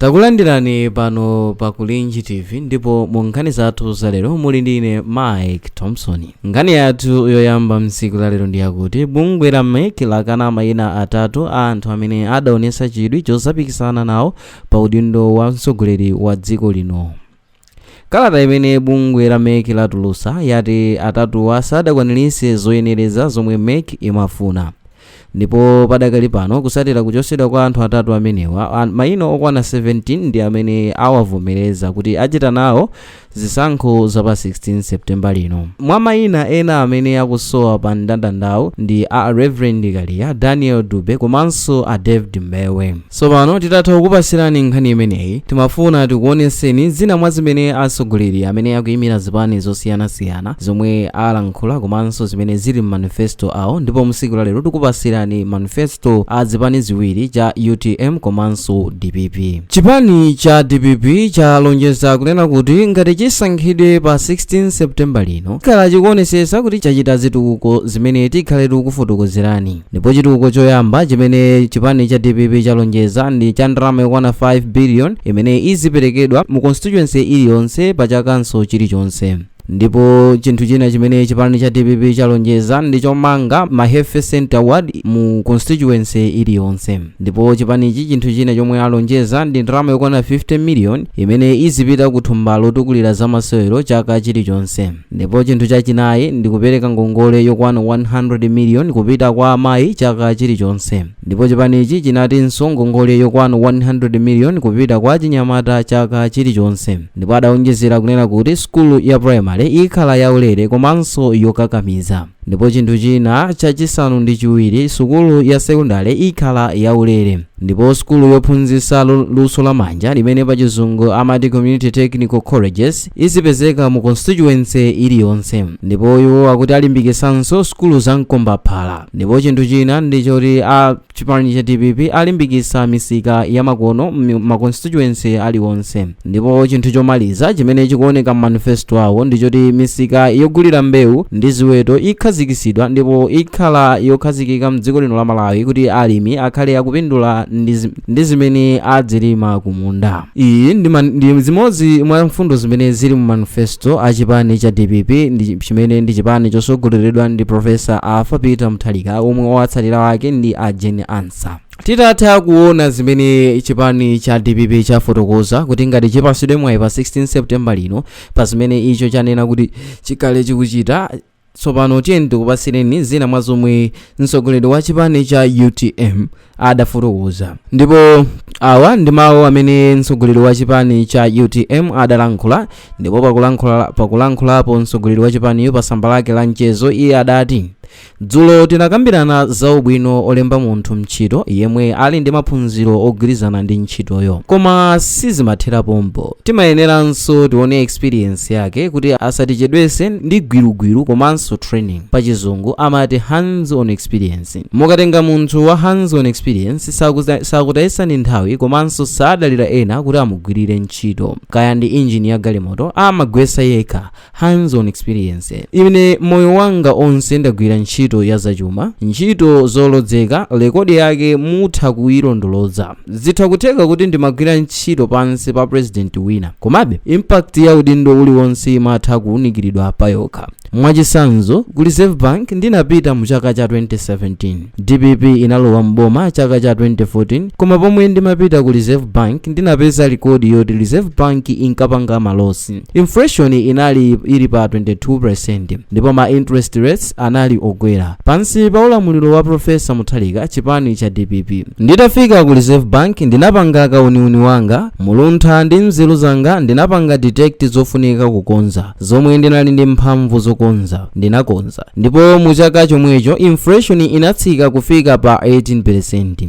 takulandirani pano pa kulinji tv ndipo mu nkhani zathu zalero muli ndi ine mike thompson nkhani yathu yoyamba mtsiku lalero ndi yakuti bungwe la mec lakana mayina atatu a anthu amene adaonesa chidwi chozapikisana nawo pa udindo wa mtsogoleri wa dziko lino Kalata imene bungwe la mec latulutsa yati atatuwa sadakwaniritse zoyenereza zomwe mec imafuna ndipo padakali pano kutsatira kuchotsedwa kwa anthu atatu amenewa, mayina okwana 17 ndi amene awavomereza kuti achita nawo zisankho za pa 16 September lino. Mwa mayina ena amene akusowa pa mndandandawu ndi a Reverend Kaliya, Daniel Dube komanso a David Mbewe. Tsopano titatha kukupatsirani nkhani imeneyi, timafuna tikuonetseni zina mwa zimene atsogoleri amene akuimira zipani zosiyanasiyana zomwe alankhula komanso zimene zili m'manifesto awo ndipo msiku la lero tikupatsirani manifesto a zipani ziwiri cha utm komanso dpp. Chipani cha dpp chalonjeza kunena kuti ngati chisankhidwe pa 16 September lino chikhala chikuonetsetsa kuti chachita zitukuko zimene tikhale tikukufotokozerani. ndipo chitukuko choyamba chimene chipani cha dpp chalonjeza ndi cha ndalama yokwana 5 billion imene iziperekedwa mu constituency iliyonse pa chakanso chilichonse ndipo chinthu china chimene chipani cha dpp chalonjeza ndi chomanga ma health center ward mu constituency iliyonse ndipo chipanichi chinthu china chomwe alonjeza ndi ndalama yokwana 50 million imene izipita ku thumba lotukulira zamasewero chaka chilichonse Ndipo chinthu chachinayi ndi kupereka ngongole yokwana 100 million kupita kwa amayi chaka chilichonse. Ndipo chipanichi chinatinso ngongole yokwana 100 million kupita kwa achinyamata chaka chilichonse. Ndipo adaonjezera kunena kuti sukulu ya primary ikhala yaulere komanso yokakamiza. Ndipo chinthu china chachisanu ndi chiwiri, sukulu ya sekondale ikhala yaulere. Ndipo sukulu yophunzitsa luso la manja limene pa chizungu amati community technical colleges izipezeka mu constituency iliyonse. Ndipo iwo akuti alimbikitsanso sukulu za mkombaphala. Ndipo chinthu china ndi choti a, Chipani cha dpp alimbikitsa misika ya makono ma constituency aliwonse ndipo chinthu chomaliza chimene chikuoneka m'manifesto awo ndi choti misika yogulira mbewu ndi ziweto ikhazikisidwa ndipo ikhala yokhazikika mdziko lino la Malawi kuti alimi akhale akupindula ndi zimene adzilima kumunda iyi ndi zimodzi mwa mfundo zimene zili mu manifesto a chipani cha dpp chimene ndi chipani chosogoleredwa ndi profesa arthur peter mutharika omwe owatsatira wake ndi a jane ansah titatha kuona zimene chipani cha dpp chafotokoza kuti ngati chipasidwe mwayi pa 16 september lino pa zimene icho chanena kuti chikhale chikuchita Tsopano tiyeni tikupatsireni zina mwa zomwe mtsogoleri wa chipani cha utm adafotokoza ndipo awa ndi mawu amene mtsogoleri wa chipani cha utm adalankhula ndipo pakulankhulapo mtsogoleri wa chipaniyo pa tsamba lake la mchezo iye adati dzulo tinakambirana za ubwino olemba munthu ntchito yemwe ali ndi maphunziro ogwirizana ndi ntchitoyo koma sizimathera pompo timayeneranso tione experience yake kuti asatichedwese ndi gwirugwiru komanso training pachizungu amati hands on experience mukatenga munthu wa hands on experience sakutayisani nthawi komanso sadalira ena kuti amugwirire ntchito kaya ndi injini ya galimoto amagwesa yekha hands on experience ine moyo wanga onse ndagwira ntchito ya zachuma ntchito zolozeka rekodi yake mutha kuyilondoloza zitha kutheka kuti ndimagwira ntchito pansi pa president wina komabe impact ya udindo uliwonse imatha kuwunikiridwa pa yokha mwachisanzo ku reserve bank ndinapita mu chaka cha 2017 dpp inalowa mboma chaka cha 2014 koma pomwe ndimapita ku reserve bank ndinapeza rekodi yoti reserve bank inkapanga malosi Inflation inali ili pa 22% ndipo ma interest rates anali okwera. Pansi pa ulamuliro wa Profesa Mutharika chipani cha dpp. Nditafika ku Reserve Bank ndinapanga kauniuni wanga, muluntha ndi nzeru zanga ndinapanga detect zofunika kukonza, zomwe ndinali ndi mphamvu zokonza, ndinakonza. Ndipo mu chaka chomwecho inflation inatsika kufika pa 18%.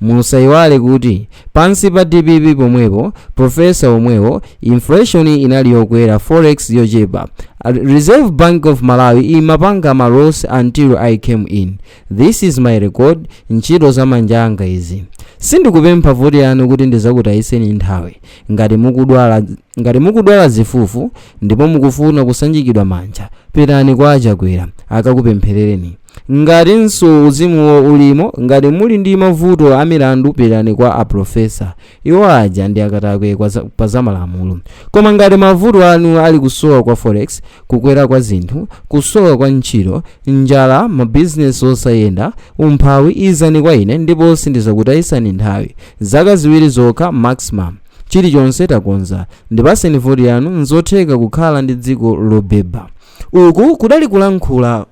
musayiwale kuti pansi pa dpp pomwepo profesa omwewo inflation inali yokwera forex yochepa reserve bank of malawi imapanga ma loss until i came in this is my record ntchito za manja anga izi sindikupempha voti yanu kuti ndizakutayiseni nthawi ngati mukudwala zifufu ndipo mukufuna kusanjikidwa manja pitani kwa a chakwera akakupempherereni Ngatinso uzimuwo ulimo, ngati muli ndi mavuto a milandu pitani kwa a Professor. Iwo aja ndi akatakwe pa za malamulo. Koma ngati mavuto anu ali kusowa kwa forex, kukwera kwa zinthu, kusowa kwa ntchito, njala, mabizinesi osayenda, umphawi, izani kwa ine ndipo sindizakutayisani nthawi. Zaka ziwiri zokha maximum. Chilichonse takonza. Ndipaseni voti yanu, nzotheka kukhala ndi dziko lobeba. uku kudali kulankhula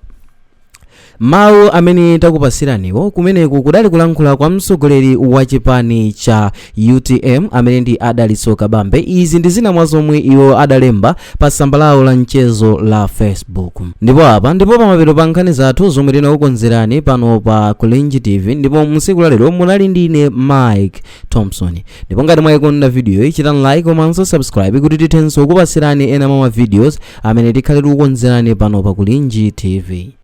mawu amene takupasiraniwo kumeneku kudali kulankhula kwa mtsogoleri wa chipani cha utm amene ndi a dalitso kabambe izi ndi zina mwa zomwe iwo adalemba pa tsamba lawo la mchezo la facebook ndipo apa ndiye pamapeto pa nkhani zathu zomwe tinakukonzerani pano pa kulinji tv ndipo msiku la lero munali ndine mike thompson ndipo ngati mwayikonda video iyi chitani like komanso subscribe kuti tithenso kupatsirani ena mwa ma videos amene tikhale tikukonzerani pano pa kulinji tv